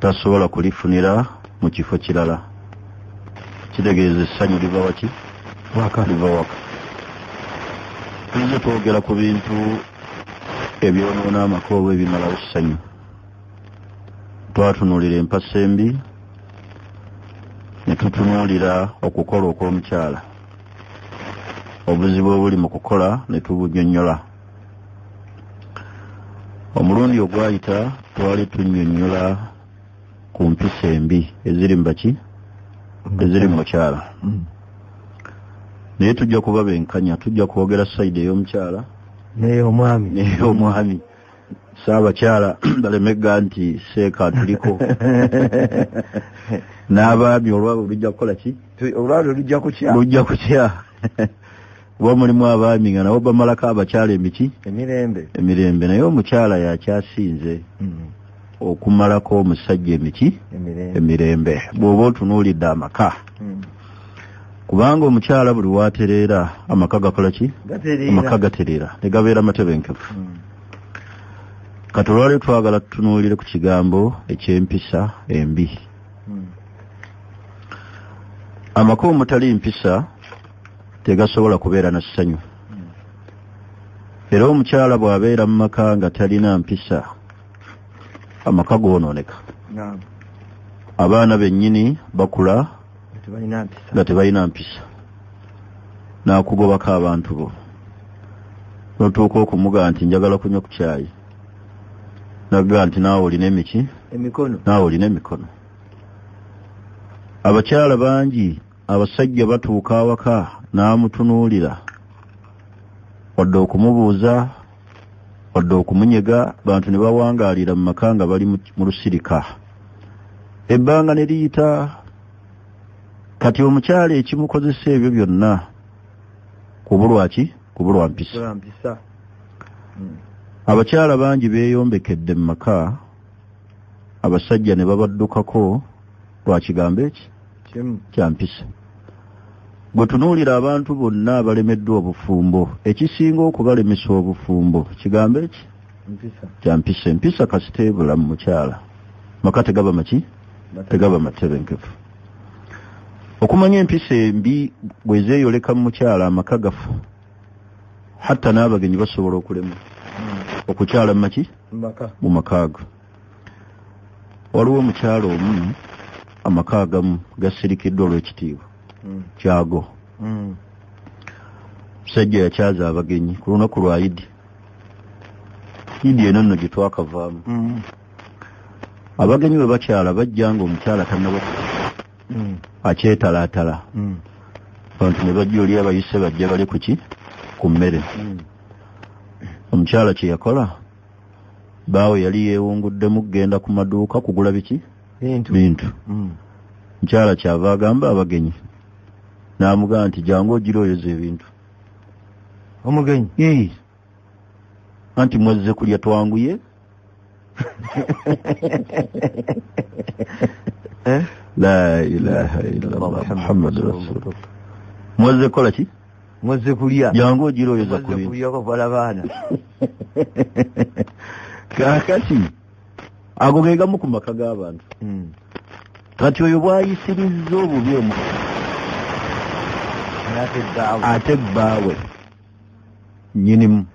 tasobola kulifunira mu kifo kirala kitegeeza essanyu liva waki waka liva waka tuze twogera ku bintu ebyonoona amaka oba ebimalawo ssanyu twatunuulira empasa embi ne tutunuulira okukola okw'omukyala obuzibu obuli mu kukola ne tubunyonyola omulundi ogwayita twali tunyonyola ku mpisa embi eziri mubaki eziri mumukyala mm. naye tujja kuba benkanya tujja kwogera saidi ey'omukyala neyomwami neyomwami saabakyala balemegga nti seeka tuliko n'abaami olwabwe lujja kukola ki olwabwe lujja kukya lujja kukya kuba mulimu abaami nga nabo bamalako abakyala emiki emirembe emirembe naye omukyala yakyasinze hmm. okumalako omusajja emiki emirembe bw'oba otunuulidde amaka hmm. kubanga omukyala buli watereera amaka gakola ki amaka gatereera ne gabeera matebenkefu hmm. kati olwali twagala tutunuulire ku kigambo eky'empisa embi amaka omutali mpisa tegasobola kubeera na ssanyu era omukyala bw'abeera mu maka nga talina mpisa amaka goonooneka abaana bennyini bakula nga tebalina mpisa n'akugobako abantu bo notuuka okumuga nti njagala kunywa ku kyayi naga nti naawe olina emiki naawe olina emikono abakyala bangi abasajja batuuka awaka n'amutunuulira wadde okumubuuza wadde okumunyega bantu ne bawangaalira mu maka nga bali mu lusirika ebbanga ne liyita kati omukyala ekimukozesa ebyo byonna kubulwa ki kubulwa mpisa hmm. abakyala bangi beeyombekedde mu maka abasajja ne babaddukako lwa kigambo eki kya mpisa bwe tunuulira abantu bonna abalemeddwa obufumbo ekisinga okubalemesa obufumbo kigambo eki kya mpisa empisa kasita ebula mu mukyala maka tegaba maki tegaba matebenkevu okumanya empisa embi bwe zeeyoleka mu mukyala amaka gafu hatta n'abagenyi basobola okulema hmm. okukyala mu maki mu makaago waliwo omukyalo omu amaka agamu gasirikiddwa olw'ekitiibwa hmm. kyago hmm. musajja yakyaza abagenyi ku lunaku lwa idi idi eno nno gye twakavaamu hmm. abagenyi bwe bakyala bajja nga omukyala tanaba akyetalaatala abantu ne bajja oli abayise bajja bali kuki ku mmere omukyala kye yakola baawe yali yeewunguddemu kugenda ku maduuka kugula biki bintu mm. mukyala kyava agamba abagenyi n'amugamba nti jangu ogira oyoza ebintu omugenyi anti mwezze kulya twanguye eh? la ilaha illallah muhammadu rasulullah mwezze kukola ki muzze kulya jangu ogira oyoza kuliyakovala baana kakati ago ge gamu ku maka g'abantu hmm. kati oyo bwayisirizza obubi omu ate bbaawe nyinimu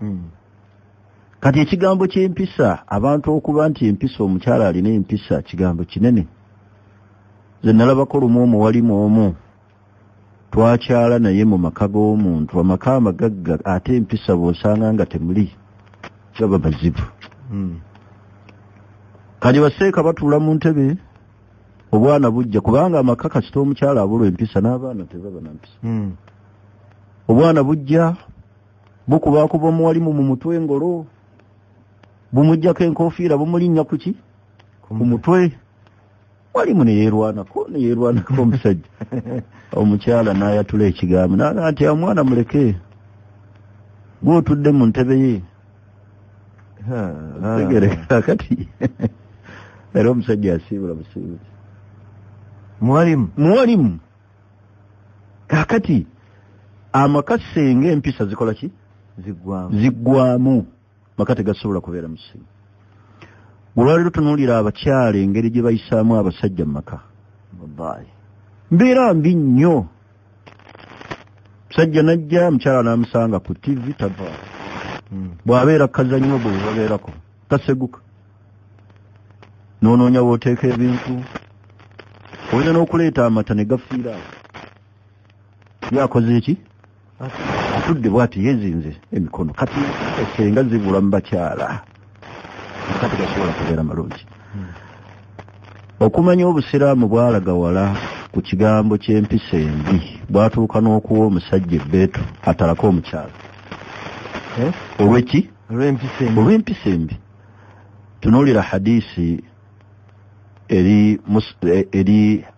hmm. kati ekigambo ky'empisa abantu okuba nti empisa omukyala alina empisa kigambo kinene ze nalabako lumu omu walimu omu twakyala naye mu maka g'omuntu amaka amagagga ate empisa bw'osanga nga temuli gaba mazibu hmm. kati baseeka batuula mu ntebe obwana bujja kubanga amaka kasita omukyala abulwa empisa n'abaana tebaba na mpisa hmm. obwana bujja bukubakuba omuwalimu mu mutwe engolo bumugjako enkofiira bumulinnya kuki ku mutwe walimu neyerwanako neyerwanako omusajja omukyala nayatula ekigambo naga nti omwana muleke gwotudde mu ntebe ye tegereka kati era omusajja yasiibula busiibuzi muwalimu muwalimu kakati amakasenge empisa zikola ki ziggwamu maka tegasobola kubeera musimu olwaleero tunuulira abakyala engeri gye bayisaamu abasajja mu maka wallahi mbeera mbi nnyo musajja najja mukyala n'amusanga ku tivi tava hmm. bw'abeera kazannyo bwe babeerako taseguka n'onoonya w'oteeka ebintu oyina n'okuleeta amata ne gafiira yakoze eki atudde bwati yezinze emikono kati esenga zibula mu bakyala kati gasobola kubeera malungi hmm. okumanya obusiraamu bwalaga wala ku kigambo ky'empisa embi bwatuuka n'okuwa omusajja ebbeetu atalako omukyala eh? olweki olw'empisa embi tunuulira hadisi eri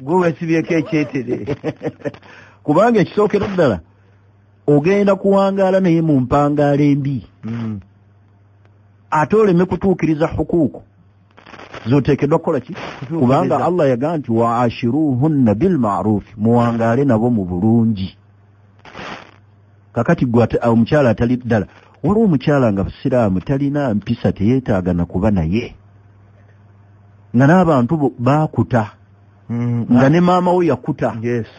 gwe wesibyeko ekyetere kubanga ekisookera ddala ogenda kuwangaala naye mu mpangaala embi hmm. ate oleme kutuukiriza hukuuku zoteekeddwa kukola ki kubanga allah yagamba nti wa ashiruhunna bilmarufi muwangaale nabo mu bulungi kakati gwe omukyala atali ddala waliwo omukyala nga busiraamu talina mpisa teyeetaaga na kuba naye nga n'abantu baakuta mm, nga ne maama wo yakuta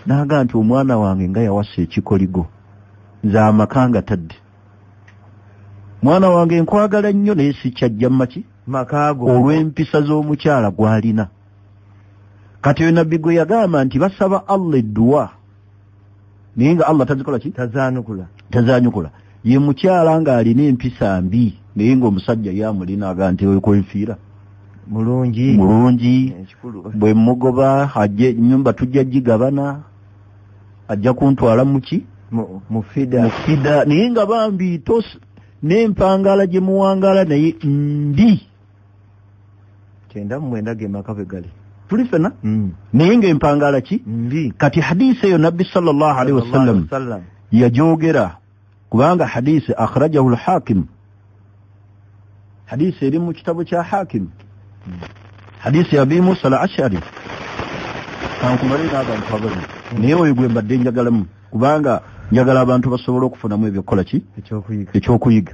n'aga nti omwana wange nga yawasa ekikoligo nze amaka nga tadde mwana wange nkwagala nnyo naye sikyajja mumaki makaago olw'empisa z'omukyala gw'alina kati oyo nabbi gwe yagamba nti basaba allah edduwa naye nga allah tazikola ki tazanukula tazanyukula ye mukyala ng'alina empisa mbi naye ng'omusajja ye amulina aga nti ekwenfiira mulungi mulungi bwe mugoba ajje nyumba tujja gigabana ajja kuntwala muki mufida mufida naye nga bambi tos n'empangaala gye muwangaala naye mbi kyenda mu mwenda ge maka bwe gali tuli fena hmm. naye ng'empangaala ki kati hadisi eyo nabbi sallallahu alaihi wasallam yagyogera kubanga hadisi akhrajahu lhakimu hadisi eri mu kitabo kya hakimu hmm. hadisi ya abi musa al ashari kankumale n'abantu abali naye oyo gwe mbadde njagalamu kubanga njagala abantu basobole okufunamu ebyokukola ki ekyokuyiga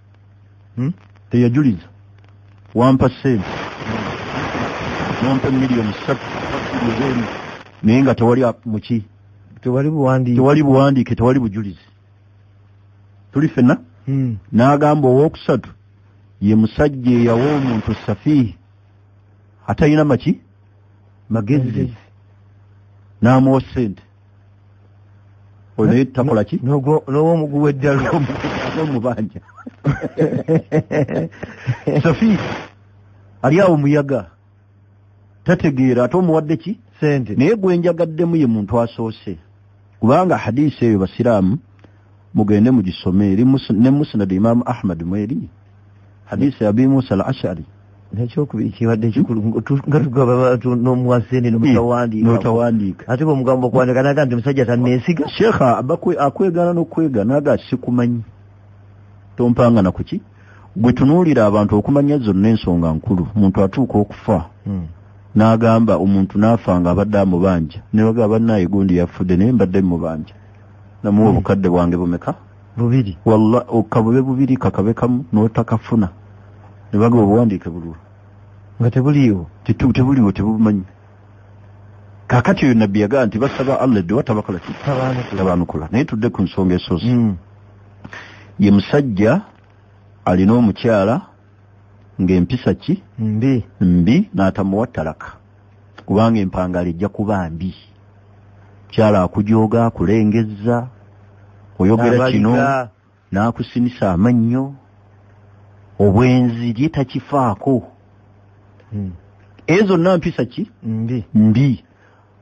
hmm? teyajuliza wampa sente nompa emiliyoni satu ezeemu naye nga tewali muki tewali buwandiike tewali bujulizi tuli fena hmm. n'agamba owokusatu ye musajja eyawa omuntu safiihi atalina maki magezi n'amuwa sente oyo naye takola ki n'owomugu w'eddalu omubanja safi ali awo muyaga tategeera ate omuwadde ki sente naye gwenjagaddemu ye muntu asoose kubanga hadiisi eyo basiraamu mugende mugisome eri ne musnad imam ahmad mweri hadisi ya abi musa al ashari nekyokubiri kibadde kikulu nga tugaba bantu n'omuwasene notawandiika ate bwemugamba okuwandika naga nti musajja tanneesiga sheekha akwegana n'okwegana aga sikumanyi tompanga na kuki gwe tunuulira abantu okumanya zonna ensonga nkulu muntu atuuka okufa hmm. n'agamba omuntu n'afa nga abadde amubanja ne bagaba bannaye gundi yafudde naye mbadde mubanja namuwa hmm. obukadde bwange bumeka bubiri walla okabube bubiri kakabe kamu notakafuna nebaga obuwandiike bulwo nga tebuliiwo tebuliwo tebumanyi kakati oyo nabbi yagaa nti basaba allah eddowa tabakola kitabaanukula naye tudde ku nsonga esozi hmm. ye musajja alina omukyala ng'empisa ki mbi mbi n'atamuwa talaka kubanga empangaala ejja kuba mbi mukyala akujooga akulengezza oyogera kino n'akusinisa amannyo obwenzi lye takifaako hmm. ezo zonna mpisa ki mbi mbi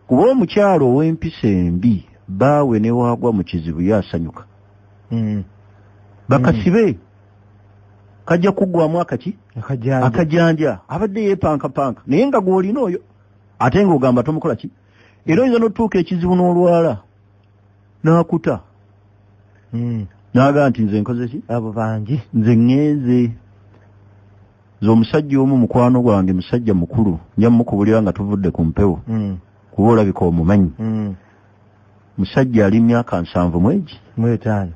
kuba omukyalo ow'empisa embi baawe newaagwa mu kizibu yo asanyuka hmm. bakasibe mm. kajja kuggwamu akaki akajanja abadde yeepankapanka naye nga gw'olina oyo ate ng'ogamba tomukola ki era oyinza n'otutuuka ekizibu n'olwala n'akuta hmm. naaga nti nze nkoze ki abo bangi nze ŋŋenze nze omusajja omu mukwano gwange musajja mukulu nja mukubulira nga tuvudde ku mpewo hmm. kuba olabika omumanyi hmm. musajja ali myaka nsanvu mwegi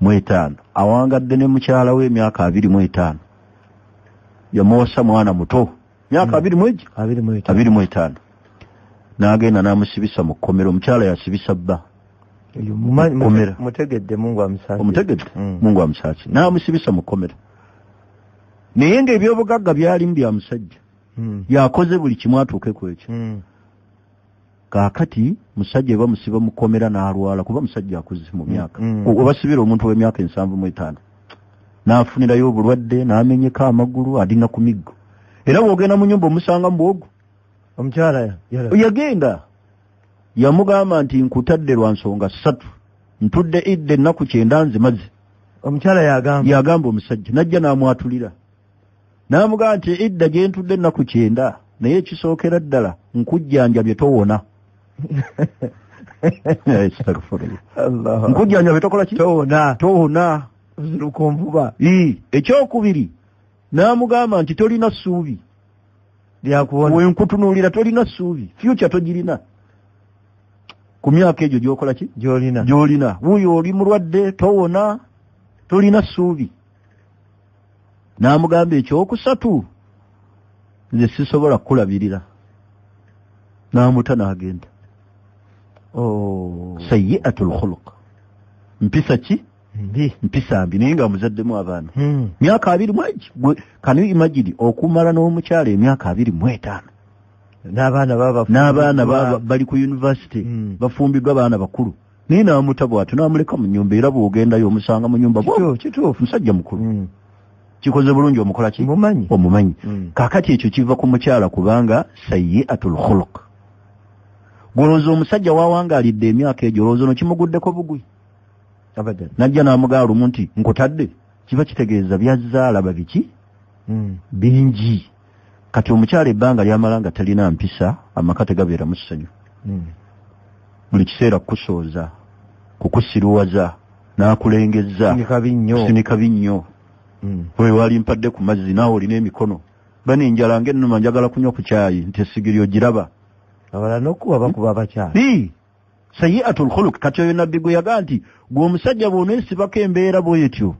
mu etaano awangadde ne mukyala we emyaka abiri mu etaano yamuwasa mwana muto myaka hmm. abiri mwegi abiri mu etaano n'agenda n'amusibisa mu kkomera omukyala yasibisa bba omutegedde mungu amusaasi hmm. n'amusibisa mu kkomera naye ng'ebyobugagga byalimu bya musajja hmm. yakoze buli kimu atuuke ku ekyo kakati musajja eba musiba mukomera n'alwala kuba musajja akuze mu myaka mm, mm. obasibira omuntu ow'emyaka ensanvu mu etaano n'afunirayo obulwadde n'amenyeka amagulu adina ku miggo era bw'ogenda mu nyumba omusanga mu bwogu omukyala yagenda yamugamba nti nkutadde lwa nsonga ssatu ntudde idde ennaku kyenda nzimaze omukyala yagamba yagamba omusajja najja n'amwatulira n'amugamba nti idda gye ntudde ennaku kyenda naye ekisookera ddala nkujjanjabye towona nkujjanjabye tokola ki towona towona ziruka onvuba ekyokubiri n'amugamba nti tolina ssuubi lyakuwona wenkutunuulira tolina ssuubi fyuca togirina ku myaka egyo gyokola ki gyolina gyolina wuyo oli mulwadde towona tolina ssuubi n'amugamba ekyokusatu nze sisobola kukulabirira n'amuta n'agenda oh. sayiatu lkhuluq mpisa ki mpisa mbi naye nga muzaddemu abaana hmm. myaka abiri mwegi kanu imagini okumala n'omukyalo emyaka abiri mwetaano n'abaana baba n'abaana bali ku yunivasite hmm. bafumbiddwa baana bakulu naye n'amuta bw'atyo n'amuleka mu nyumba era bw'ogendayo omusanga mu nyumba kituufu musajja mukulu hmm. kikoze bulungi omukola ki omumanyi omumanyi hmm. kakati ekyo kiva ku mukyala kubanga sayi atul khuluk gwolowooza omusajja wawangaalidde emyaka egyo olowooza no kimuguddeko bugwi abadan najja n'amugaa lumu nti nkutadde kiba kitegeeza byazzaala babiki hmm. bingi kati omukyala ebbanga lyamala nga talina mpisa amaka tegabeera mu ssanyu hmm. buli kiseera kukusooza kukusiruwaza n'akulengezza kusinika binnyo hmm. oyo wali mpadde ku mazzi naawe olina emikono bana enjala ng'ennuma njagala kunywa ku kyayi nti esigiri ogiraba abala n'okuba bakuba abakyala sayiatul khuluk kati oyo nabbi gwe yagaa nti gwe omusajja bwonesibako embeera bwetyo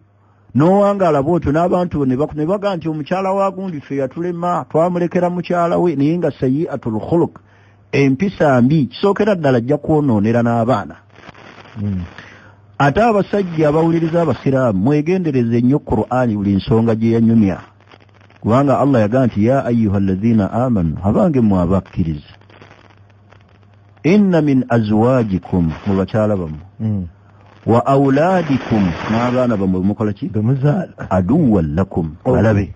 nowangaala bwotyo n'abantu ne bagaa nti omukyala wa gundi ffe yatulema twamulekera mukyala we naye nga sayiatul khuluk empisa mbi kisookera ddala ajja kwonoonera n'abaana hmm. ate abasajja abawuliriza abasiraamu mwegendereze nnyo qur'ani buli nsonga gye yanyumya kubanga allah yagaa nti ya ayuha allazina amanu abange mwe abakkiriza inna min azwajikum mu bakyala bamu hmm. wa auladikum n'abaana bamwe bemukola ki aduwan lakum oh. balabe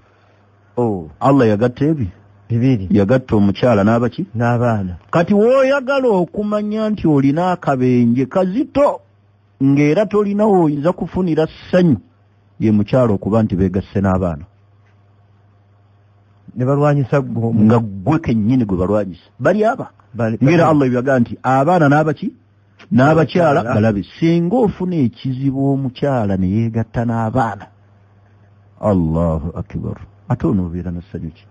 oh. allah yagatta ebi bibiri yagatta omukyala n'abaki n'abaana kati woyagala okumanya nti olina akabenje kazito ng'era tolina woyinza kufunira ssanyu ye mukyalo okuba nti beegasse n'abaana ne balwanyisa nga ggwe kennyini gwe balwanyisa bali aba ngera allah ebyaga nti abaana n'abaki n'abakyala balabe singa ofuna ekizibu omukyala ne yeegatta n'abaana allahu akibaru ate onoobeera nassanyu ki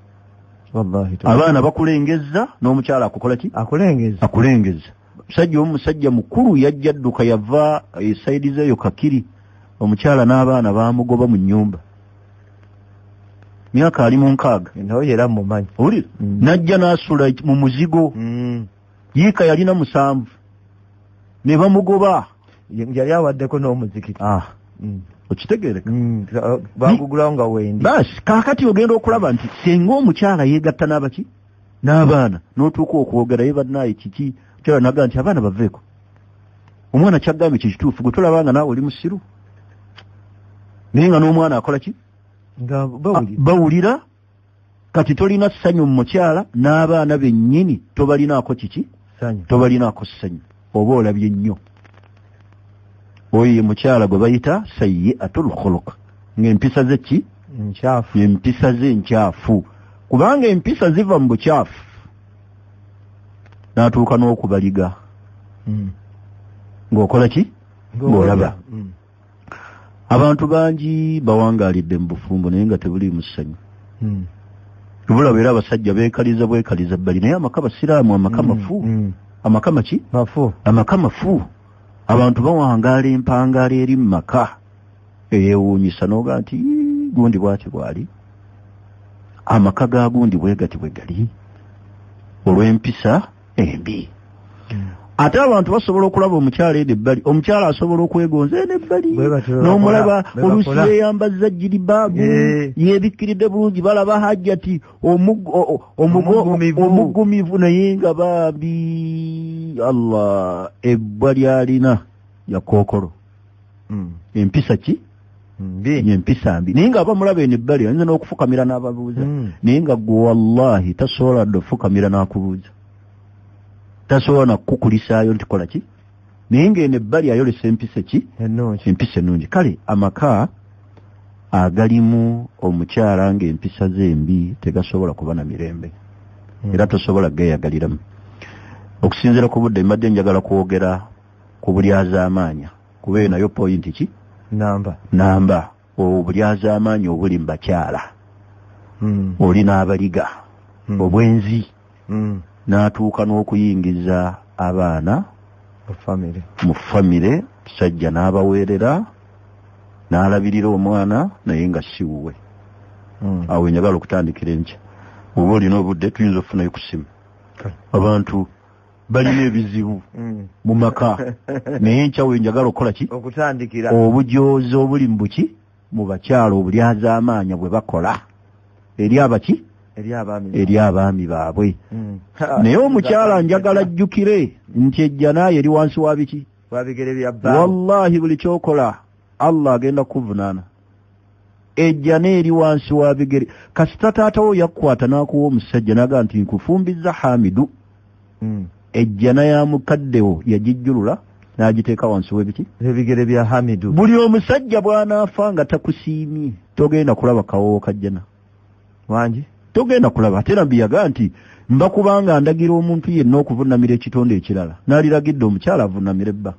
abaana bakulengezza n'omukyala akukola ki akulengezza musajja omu musajja mukulu yajja dduka yava esaidi zeeyo kakiri omukyala n'abaana baamugoba mu nnyumba myaka ali mu nkaaga naye era mumanyi uli mm. n'ajja n'asula mu muzigo mm. yiika yalina musanvu ne bamugoba yali awaddeko n'omuzikiti ah. mm. okitegereka mm, bagugulawo nga wendi basi kakati ogenda okulaba nti senga omukyala yegatta n'abaki n'abaana n'otuuka okwogera ye bannaaye kiki kyala naga nti abaana baveeko omwana kyagambye kye kituufu gwe tolaba nga naawe oli musiru naye nga n'omwana akola ki nga bawulira kati tolina ssanyu mu mukyala n'abaana bennyini tobalinaako kiki tobalinaako ssanyu oba olabye nnyo oyo ye mukyala gwe bayita sayi atul khuluq ng'empisa ze ki nkyafu empisa ze nkyafu kubanga empisa ziva mu bukyafu n'atuuka n'okubaliga hmm. ng'okola ki ng'olaba hmm. abantu bangi bawangalidde mu bufumbo naye nga tebuli musanyu hmm. obulaba era abasajja bekaliza bwekaliza bali naye amaka basiraamu amaka hmm. mafu hmm. amaka maki mafu amaka mafu abantu bawangaala empangaala eri mu maka eyewuunyisa nooga nti gundi bwati bwali amaka ga gundi bwegati bwe gali olw'empisa embi ate abantu basobola okulaba omukyala eno ebbali omukyala asobola okwegonza eno ebbali n'omulaba oluusi yeyambazza jiribaabu eh. yebikkiridde bulungi balaba hajjati omugumivu naye nga baabi allah ebbwa lyalina yakookolo hmm. empisa ki empisa mbi naye nga abamulaba eno ebbali ayinza n'okufukamira n'ababuuza hmm. naye nga gwe wallahi tasobola dde okufukamira n'akubuuza tasobola nakukukulisaayo nti kola ki naye nga eno ebbali ayolesa empisa ki empisa ennungi kale amaka agalimu omukyala nga empisa ze mbi tegasobola kuba na mirembe hmm. era tosobola geyagaliramu okusinziira ku budde mbadde njagala kwogera ku bulyazaamaanya kuba eyo nayo pointi ki namba namba obulyazaamaanyi obuli mu bakyala hmm. oli n'abaliga hmm. obwenzi hmm. n'atuuka n'okuyingiza abaana mu famire musajja n'abaweerera n'alabirira omwana naye nga si wuwe awo njagala okutandikira enkya oba olina obudde tuyinza okufunayo ku ssimu abantu balina ebizibu mm. mu maka naye enkyawo enjagala okukola ki okutandikira obujoozi obuli mu buki mu bakyala obulyazaamaanya bwe bakola eri abaki eri abaami baabwe mm. naye omukyala njagala ajjukire nti ejjanaayo eri wansi wa biki wallahi buli kyokola allah agenda kukuvunaana ejjana eri wansi wa bigere kasita taata wo yakukwata n'akuwa omusajja naga nti nkufumbizza hamidu hmm. ejjana ya mukaddewo yagijjulula n'agiteeka wansi w'ebiki ebigere bya hamidu buli omusajja bw'anaafa nga takusiimye togenda kulaba kawoowo kajjana wangi togenda kulaba ate nabbi yagaa nti mba kubanga ndagira omuntu yenna okuvunamira ekitonde ekirala naliragidde omukyala avunamira ebba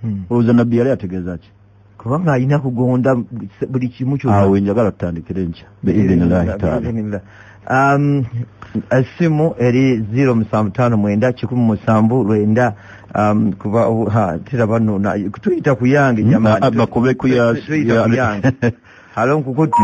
hmm. olowooza nabbi yali ategeeza ki kubanga alina kugonda buli kimu kyoawe njagala tutandikire nkya beidhinillahi taala um, essimu eri ziro musanvu tano mwenda kikumi musanvu lwenda um, kuba tera bano tuyita kuyange hmm, jamani bakube kuya halo nkukuti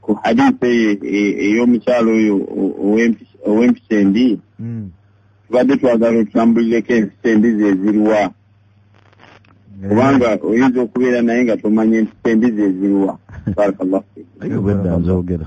ku hadisi eyo e- ey'omukyalo oyo o- ow'empi- ow'empisa embi tubadde twagala otutambulireko empisa embi zeziruwa kubanga oyinza okubeera naye nga tomanya empisa embi zeziruwa barakallahu fiik. Naye obwedda nzogera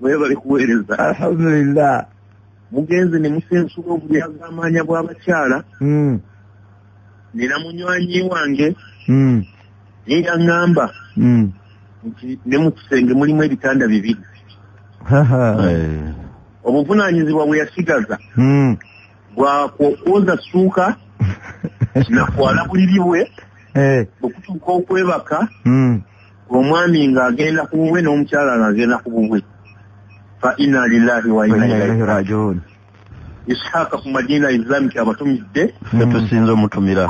webale kuweereza alhamdulillah mugenze ne musensula obulyazaamaanya bw'abakyala hmm. nina munywanyi wange hmm. ye yaŋŋamba hmm. nti ne mu kisenge mulimu ebitanda bibiri eh. obuvunaanyizibwa bwe yasigaza bwakwoza suuka nakwala buliri bwe eh. bwe kutuuka okwebaka omwami nga agenda ku bubwe n'omukyala nga agenda ku bubwe fa ina lillahi wa ina ilaihi rajiun ishaaka ku madina islamic abatumidde netusinza omutumira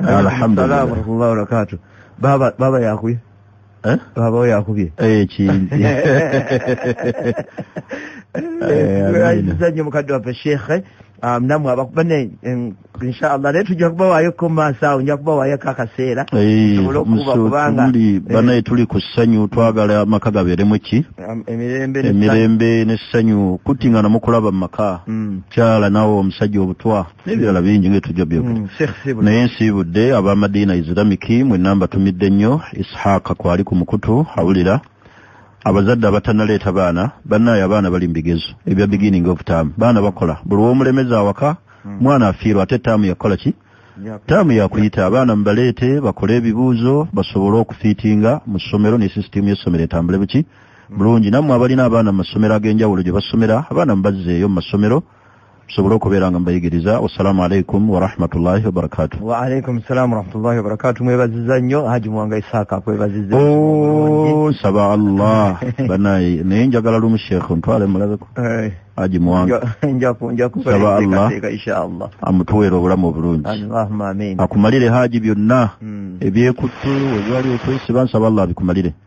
alhamdulillah baaba yakuye Eh? baba oyo akubye ekinzi aziza nnyo mukadde waffe sheekhe um, namwe abakubane inshallah naye tujja kubawaayo ko maaso awo nja kubawayoko akaseera kubanga eh, banaye tuli ku ssanyu twagala amaka gabeeremu ki um, emirembe n'essanyu kuttingana mukulaba mu maka mm. kyala nawe omusajja obutwa n'ebirala bingi nga tujja byogera mm, naye nsiibudde abamadiina isiramiki mwe namba tumidde nnyo ishaaka kwali ku mukutu awulira abazadde abatanaleeta baana bannaayo abaana bali mu bigezo ebya beginning of term baana bakola buli womulemeza awaka mm. mwana afiirwa ate taamu yakukola ki taamu yakuyita abaana mubaleete bakole ebibuuzo basobole okufiitinga mu ssomero ne sisitiimu y'essomero etambule buki mm. bulungi nammwe abalina abaana mu masomero ag'enjawulo gye basomera abaana mubazzeeyo mu masomero mm. tusobole okubeera nga mbayigiriza wassalamu alaikum warahmatullahi wabarakatu waalaikum salamu warahmatullahi wabarakatu mwebaziza nnyo haji muwanga isaaka kwebaziza oh, saba allah banaye naye njagala lumu sheekh ntwale mulabeko eh. haji muwanga saba allah amutuweera obulamu obulungi akumalire haji byonna hmm. ebyekuttu ebyali okwesiba nsaba allah abikumalire